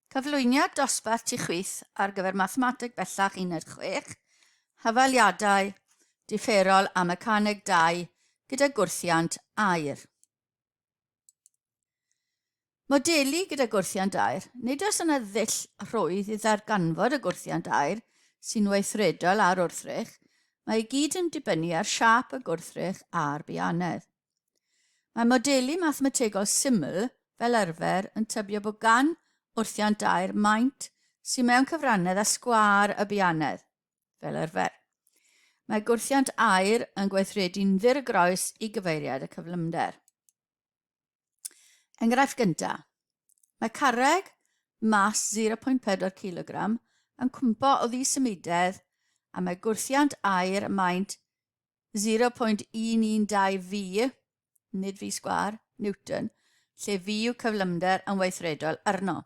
Cyflwyniad dosbarth tu chwith ar gyfer Mathemateg Bellach Uned 6, Hafaliadau diferol a Mecaneg 2 gyda gwrthiant aer. Modelu gyda gwrthiant aer, nid oes yna ddull rhwydd i ddarganfod y gwrthiant aer sy'n weithredol ar wrthrych, mae i gyd yn dibynnu ar siâp y gwrthrych a'r bianedd. Mae modelu mathemategol syml fel arfer yn tybio bod gan wrthiant dair maint sy'n mewn cyfrannedd â sgwâr y bianedd, fel arfer. Mae gwrthiant air yn gweithredu'n ddir groes i gyfeiriad y cyflymder. Enghraifft gyntaf. Mae carreg mas 0.4 kg yn cwmpo o ddi symudedd a mae gwrthiant air maint 0.112 V, nid V sgwâr, Newton, lle V yw cyflymder yn weithredol arno.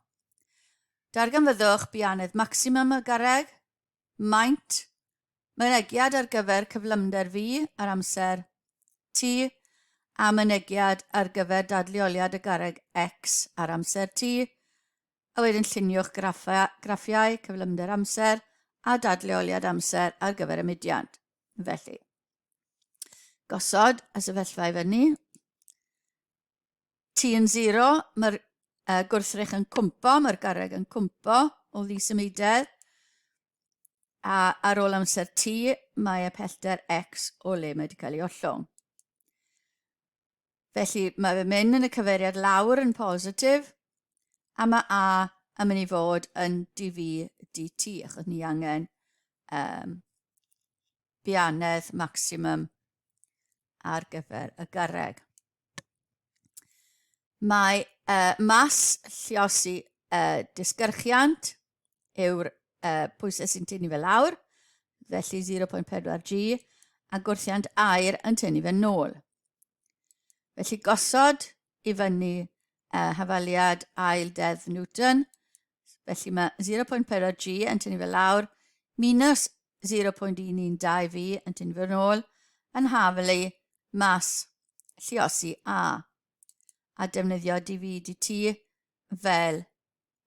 Darganfyddwch bianedd maximum y garreg, maint, mynegiad ar gyfer cyflymder V ar amser T a mynegiad ar gyfer dadleoliad y garreg X ar amser T, a wedyn lluniwch graffiau cyflymder amser a dadleoliad amser ar gyfer y mudiad. Felly, gosod y sefyllfa i fyny. T yn 0, mae'r uh, gwrthrych yn cwmpo, mae'r garreg yn cwmpo o ddi symudedd. A ar ôl amser T, mae y pellter X o le mae wedi cael ei ollwng. Felly mae fy min yn y cyfeiriad lawr yn positif, a mae A yn mynd i fod yn dv dt, achos ni angen um, bianedd maximum ar gyfer y gyrreg. Mae uh, mas lliosi uh, disgyrchiant yw'r uh, pwysau sy'n tynnu fe lawr, felly 0.4 G, a gwrthiant air yn tynnu fe nôl. Felly gosod i fyny uh, hafaliad ail deddf Newton, felly mae 0.4 G yn tynnu fe lawr, minus 0.112 V yn tynnu fe nôl, yn hafelu mas lliosi A, a defnyddio dv dt fel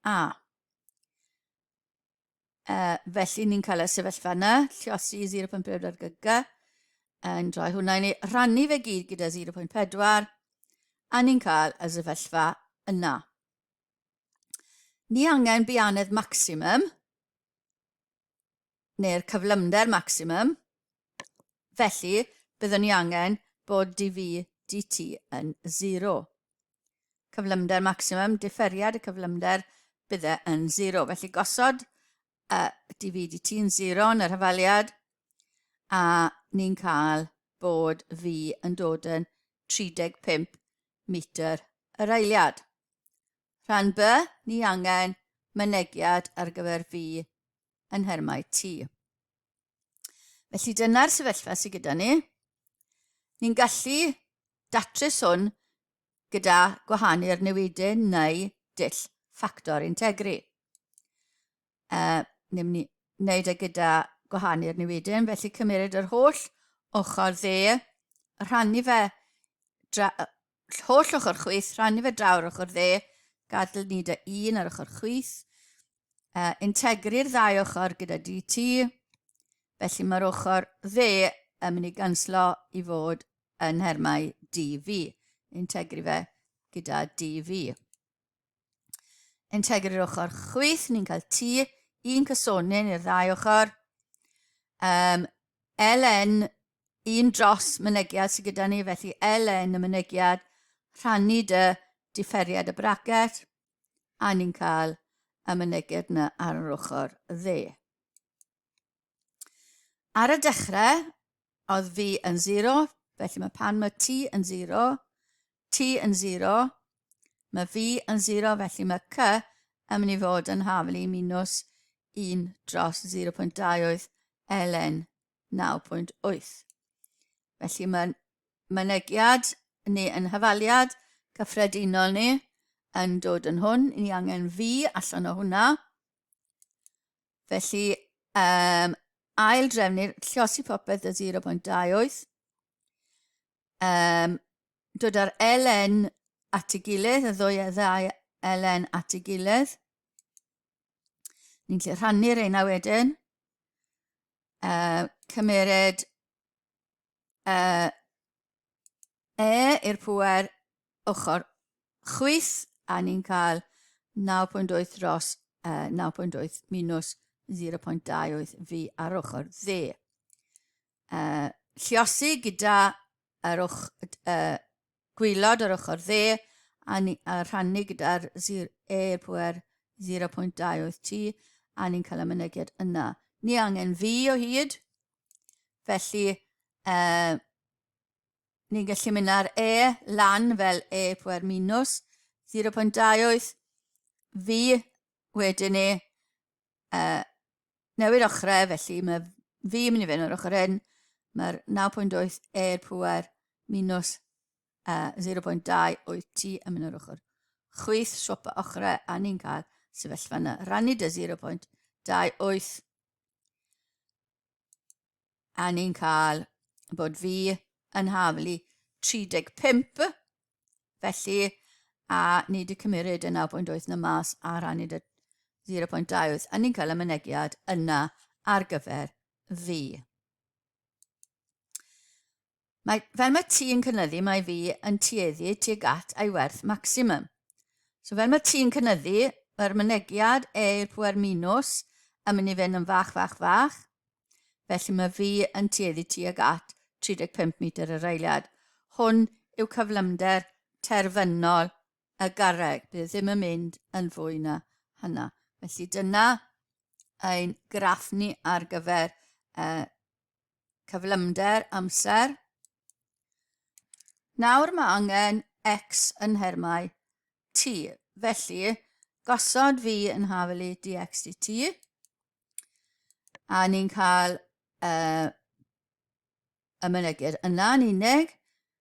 A. E, felly ni'n cael y sefyllfa yna, lliosi 0.4 gyg, yn rhoi hwnna i ni, rhannu fe gyd gyda 0.4, a ni'n cael y sefyllfa yna. Ni angen bianedd maximum, neu'r cyflymder maximum, felly byddwn ni angen bod dv dt yn 0. cyflymder maximum, differiad y cyflymder, bydde yn 0. Felly gosod y DVDT yn 0 yn yr hyfaliad, a ni'n cael bod V yn dod yn 35 metr yr eiliad. Rhan B, ni angen mynegiad ar gyfer V yn nhermau T. Felly dyna'r sefyllfa sydd gyda ni. Ni'n gallu datrys hwn gyda gwahanu'r newidau neu dull ffactor integri. Uh, Ni'n ni wneud e gyda gwahanu'r newidyn, felly cymryd yr holl ochr dde, rhannu fe, dra, holl ochr chwyth, rhannu fe draw'r ochr dde, gadw ni dy un ar ochr chwyth, uh, integru'r ddau ochr gyda DT, felly mae'r ochr dde yn mynd i ganslo i fod yn nhermau DV, integru fe gyda DV. Integru'r ochr chwyth, ni'n cael T, un cysonyn i'r ddau ochr, um, LN un dros mynegiad sydd gyda ni, felly LN y mynegiad, rhannu dy differiad y bracet, a ni'n cael y myneged yna ar yr ochr dde. Ar y dechrau, oedd fi yn 0, felly mae pan mae T yn 0, T yn 0, mae fi yn 0, felly mae C yn mynd i fod yn haflu minus 1 dros 0.2 oedd ln 9.8. Felly mae mynegiad ni yn hyfaliad cyffredinol ni yn dod yn hwn. Ni angen fi allan o hwnna. Felly, um, ail drefnu'r llosi popeth o 0.28. Um, dod ar LN at y gilydd, y ddwy a ddau LN at y gilydd. Ni'n lle rhannu'r eina wedyn. uh, cymered uh, e i'r pwer ochr chwith a ni'n cael 9.8 dros uh, 9.8 minus 0.28 fi ar ochr dde. Uh, lliosi gyda yr ochr, uh, gwaelod yr ochr dde a, ni, a rhannu gyda'r air pwer 0.28 T a ni'n cael y mynegiad yna. Ni angen fi o hyd, felly uh, ni'n gallu mynd ar E lan fel E pwer minus 0.28 fi wedyn ni uh, newid ochrau, felly mae fi yn mynd i fynd o'r ochr hyn, mae'r 9.8 e'r pwer minus uh, 0.2 o'i ti yn mynd o'r ochr. Chwyth swap y ochrau a ni'n cael sefyllfa yna. Rannu dy 0.28 a ni'n cael bod fi yn haflu 35 felly a ni wedi cymryd y 9.8 na mas a rhannu dy 0.2 wyth a ni'n cael y mynegiad yna ar gyfer fi. Mae, fel mae ti yn cynyddu, mae fi yn tueddu tuag at ei werth maximum. So fel mae ti yn cynyddu, mae'r mynegiad eir pwer minus yn mynd i fynd yn fach, fach, fach. Felly mae fi yn tueddu tuag at 35 metr yr eiliad. Hwn yw cyflymder terfynol y garreg. Bydd e ddim yn mynd yn fwy na hynna. Felly dyna ein graff ni ar gyfer uh, cyflymder amser. Nawr mae angen x yn nhermau t, felly gosod fi yn hafelu dx dt, a ni'n cael uh, y mynygyr yna yn unig,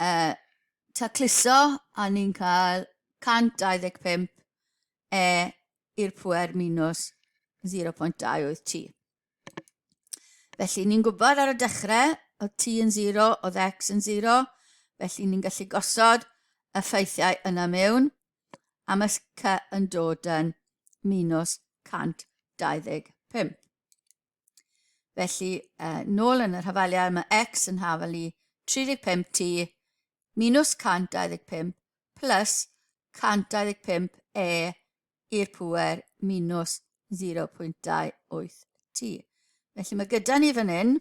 Uh, tacluso, a ni'n cael 125 e i'r pwer minus 0.28 t. Felly ni'n gwybod ar y dechrau o t yn 0, o x yn 0, felly ni'n gallu gosod y ffeithiau yna mewn, a mae c yn dod yn minus 125. Felly, uh, nôl yn yr hafaliad, mae x yn hafal i 35t minus 125 plus 125 e i'r pwer minus 0.28t. Felly mae gyda ni fan hyn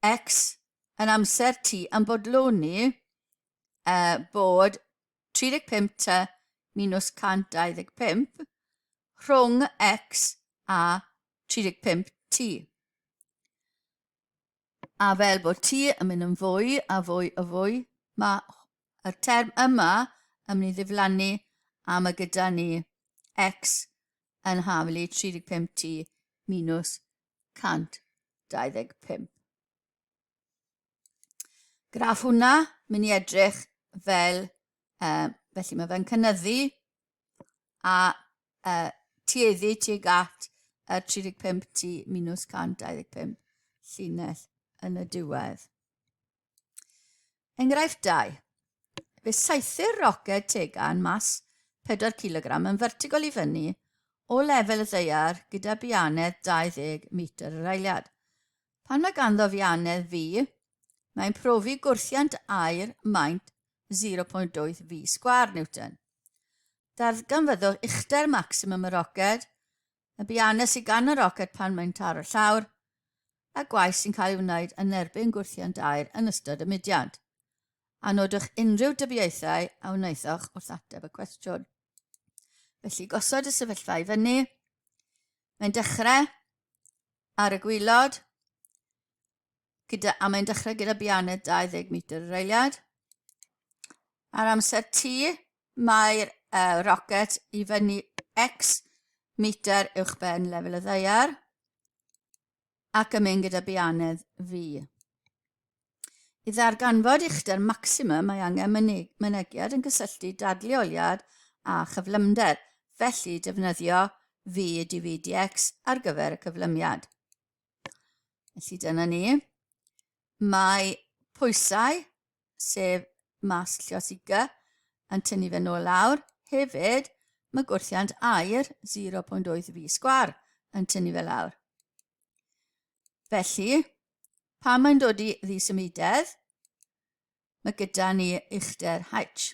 x yn amser t yn bodloni uh, bod 35 tŷ minus 125 rhwng X a 35 tŷ. A fel bod tŷ yn mynd yn fwy a fwy a fwy, mae y term yma yn mynd i ddiflannu a mae gyda ni X yn haflu 35 tŷ minus 125. Graff hwnna, mynd i edrych fel, uh, felly mae fe'n cynnyddu a uh, tueddu tuag at y 35 tu minus 125 llinell yn y diwedd. Enghraifft 2. Fe saethu'r roced tegan mas 4 kg yn vertigol i fyny o lefel y ddeiar gyda bianedd 20 metr yr eiliad. Pan mae ganddo fianedd fi, mae'n profi gwrthiant aer maint 0.8 fi sgwâr Newton. Darganfyddwch uchder maximum y roced, y bianedd sydd gan y roced pan mae'n taro llawr, a gwaith sy'n cael ei wneud yn erbyn gwrthiant aer yn ystod y mudiad. A nodwch unrhyw dybiaethau a wnaethoch wrth ateb y cwestiwn. Felly gosod y sefyllfa i fyny, Mae'n dechrau ar y gwylod, gyda, a mae'n dechrau gyda bianed 20 metr yr eiliad. Ar amser T, mae'r uh, rocket i fyny X metr uwch ben lefel y ddeiar. ac yn mynd gyda bianedd fi. I ddarganfod uchder maximum mae angen mynegiad yn cysylltu dadleoliad a chyflymder, felly defnyddio fi DVDX ar gyfer y cyflymiad. Felly dyna ni. Mae pwysau sef Mas Llosiga, yn tynnu fe nôl lawr. Hefyd, mae gwrthiant air 0.8 fi sgwar yn tynnu fe lawr. Felly, pan mae'n dod i ddisymudedd, mae gyda ni uchder H.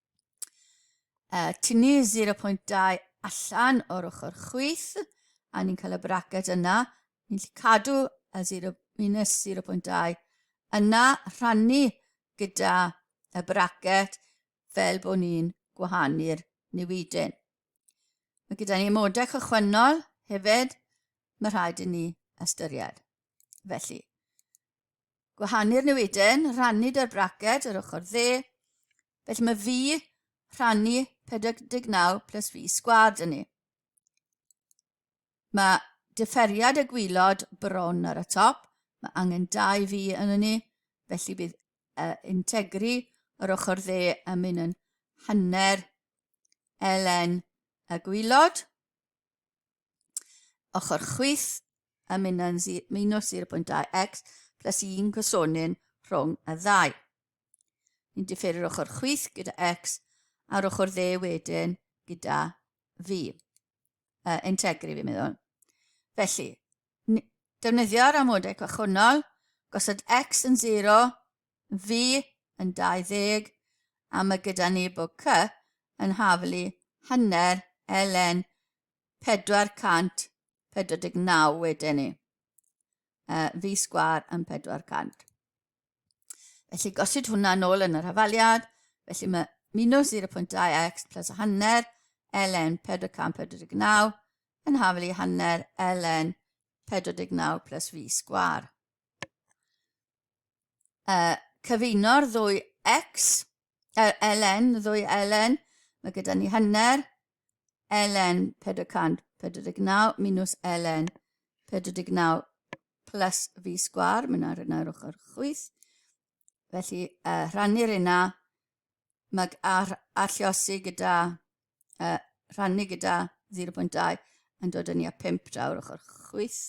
Uh, tynnu 0.2 allan o'r ochr chwith, a ni'n cael y bracket yna. Ni'n lli cadw y 0, minus 0.2 yna, rhannu gyda y bracket fel bod ni'n gwahanu'r newidyn. Mae gyda ni modau cychwynnol hefyd, mae rhaid i ni ystyried. Felly, gwahanu'r newiden, rhannu da'r braced yr ochr dde. Felly mae fi rhannu 49 plus fi sgwad yn ni. Mae differiad y gwylod bron ar y top, mae angen dau fi yn ni, felly bydd uh, integri yr ochr dde yn mynd yn hanner ln y gwylod. Ochr chwith y minyn minus 0.2x plus 1 gosonyn rhwng y ddau. Ni'n differu'r ochr chwith gyda x a'r ochr dde wedyn gyda fi. Uh, integri fi'n meddwl. Felly, defnyddio'r amodau gwahanol, gosod x yn 0, Fi yn 20 a ma gyda ni book cy yn haflu hanner LN 449 wedyn ni. Uh, fi sgwar yn 400. Felly gosod hwnna nôl yn yr hafaliad, felly mae minus 0.2x plus a hanner ln 449 yn haflu hanner ln 49 plus fi sgwar. uh, cyfuno'r ddwy X, er, LN, y ddwy LN, mae gyda ni hanner, LN 449 minus LN 49 plus fi sgwar, mae yna rhywun ar ochr chwyth. Felly, uh, rhannu'r yna, mag a, a lliosi gyda, uh, rhannu gyda 0.2 yn dod yn i a 5 draw'r ochr chwyth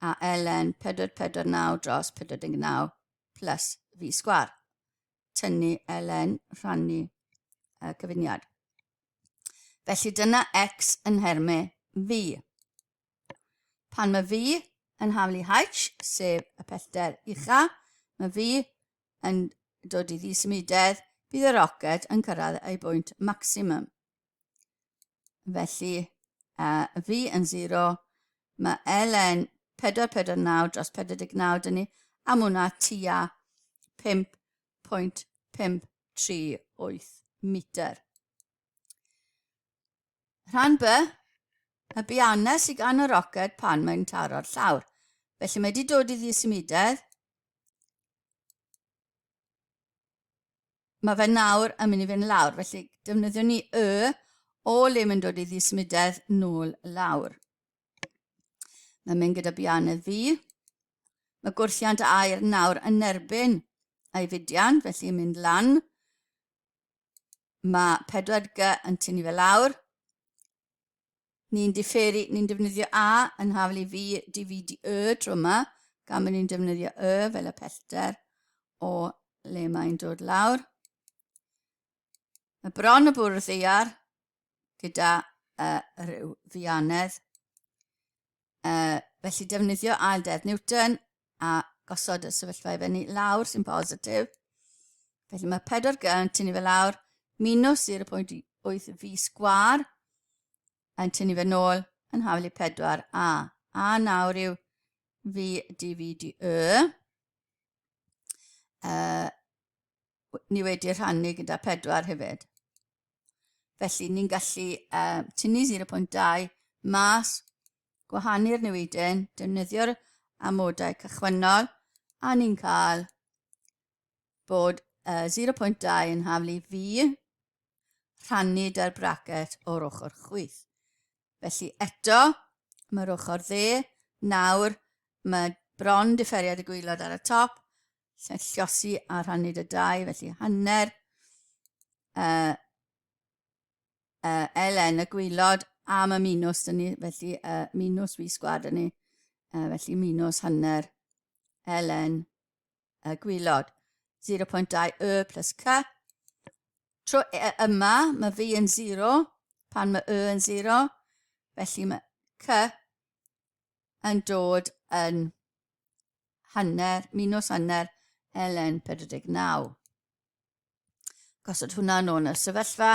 a ln 449 dros 49 plus fi sgwar. Tynnu ln rhannu uh, cyfuniad. Felly dyna x yn nhermau fi. Pan mae fi yn haflu h, sef y pellter ucha, mae fi yn dod i ddisymudedd, bydd y roced yn cyrraedd ei bwynt maximum. Felly, a fi yn 0, mae LN 449 dros 49 dyn ni, am hwnna tua 5.538 metr. Rhan B, y bianna sydd gan y roced pan mae'n taro'r llawr. Felly mae wedi dod i ddisymudedd. Mae fe nawr yn mynd i fynd lawr, felly defnyddio ni y o le mae'n dod i ddisymudedd nôl lawr. Mae'n mynd gyda bianedd fi. Mae gwrthiant air nawr yn erbyn ei fudian, felly mynd lan. Mae 4G yn tynnu fe lawr. Ni'n diferu, ni'n defnyddio A yn haflu fi, DVD Y tro yma, gan bod ni'n defnyddio Y fel y pellter o le mae'n dod lawr. Mae bron y bwrdd ddeiar gyda uh, rhyw ddianedd. Uh, felly defnyddio ail deddf Newton a gosod y sefyllfa i fyny lawr sy'n positif. Felly mae 4 g yn tynnu fe lawr, minus 0.8 fi sgwar yn tynnu fe nôl yn haflu 4 a. A nawr yw fi dv di y. Uh, ni wedi rhannu gyda pedwar hefyd. Felly ni'n gallu uh, tynnu 0.2 mas, gwahanu'r newidyn, defnyddio'r amodau cychwynnol, a ni'n cael bod uh, 0.2 yn haflu fi rhannu da'r bracet o'r ochr chwyth. Felly eto, mae'r ochr dde, nawr mae bron differiad y gwylod ar y top, Lle llosi a rhannu dy dau, felly hanner uh, uh, Elen y gwylod am y minws dyn ni, felly uh, minws fi sgwad dyn ni, uh, felly minws hanner Elen y gwylod. 0.2 y plus c. Tro e, e, yma, mae fi yn 0, pan mae y yn 0, felly mae c yn dod yn hanner, minws hanner LN 49. Gosod hwnna yn ôl y sefyllfa,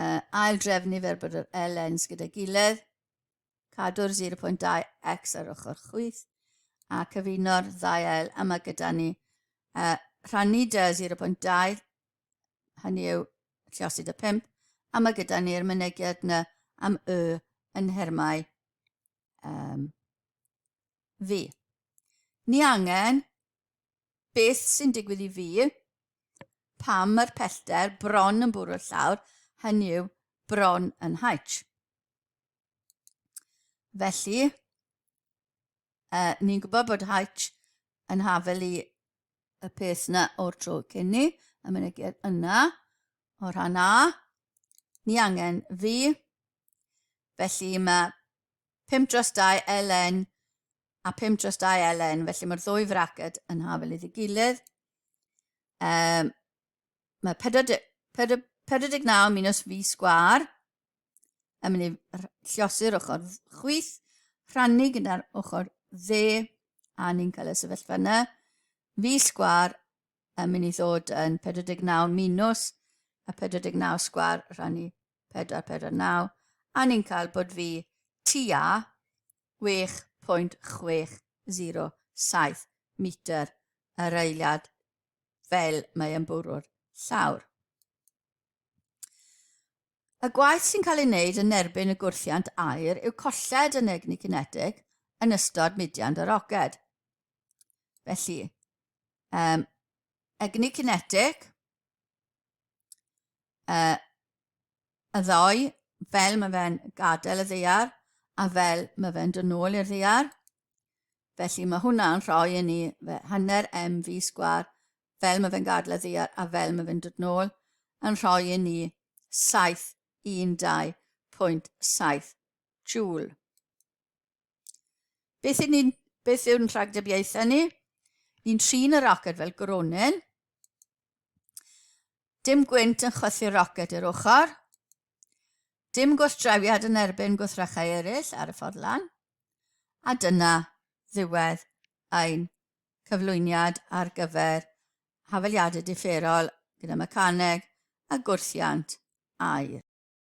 uh, ail drefnu fer bod yr LNs gyda gilydd, cadw'r 0.2x ar ochr chwyth, a cyfuno'r ddau ail yma gyda ni. Uh, rhannu dy 0.2, hynny yw llosyd y 5, a mae gyda ni'r mynegiad yna am y yn nhermau um, fi. Ni angen beth sy'n digwydd i fi pam mae'r pellter bron yn bwrw llawr, hynny yw bron yn haich. Felly, uh, ni'n gwybod bod haich yn hafel i y peth yna o'r tro cyn ni, y mynegiad yna, o rhan A, ni angen fi, felly mae 5 dros 2 LN a 5 dros 2 LN, felly mae'r ddwy fraced yn hafel iddi gilydd. Um, mae 49 minus fi sgwar yn mynd i lliosi'r ochr chwith, rhannu gyda'r ochr dde, a ni'n cael y sefyllfa yna. Fi sgwar yn mynd i ddod yn 49 minus a 49 sgwar rhannu 449 a ni'n cael bod fi tua 6.607 metr yr eiliad fel mae yn bwrw'r llawr. Y gwaith sy'n cael ei wneud yn erbyn y gwrthiant aer yw colled yn egni cinetig yn ystod mudiant y roced. Felly, um, egni cinetic, uh, y ddoi, fel mae fe'n gadael y ddeiar a fel mae fe'n dod nôl i'r ddeiar. Felly mae hwnna'n rhoi i ni hanner mv sgwar fel mae fe'n gadael y ddeiar a fel mae fe'n dod nôl yn rhoi i ni 712.7 joule. Beth yw'n ni'n... Beth yw'n rhagdybiaethau ni? Ni'n trin y roced fel gronyn. Dim gwynt yn chwythu'r roced i'r ochr. Dim gwrthdrawiad yn erbyn gwrthrychau eraill ar y ffordd lan. A dyna ddiwedd ein cyflwyniad ar gyfer hafaliadau differol gyda mecaneg a gwrthiant aer.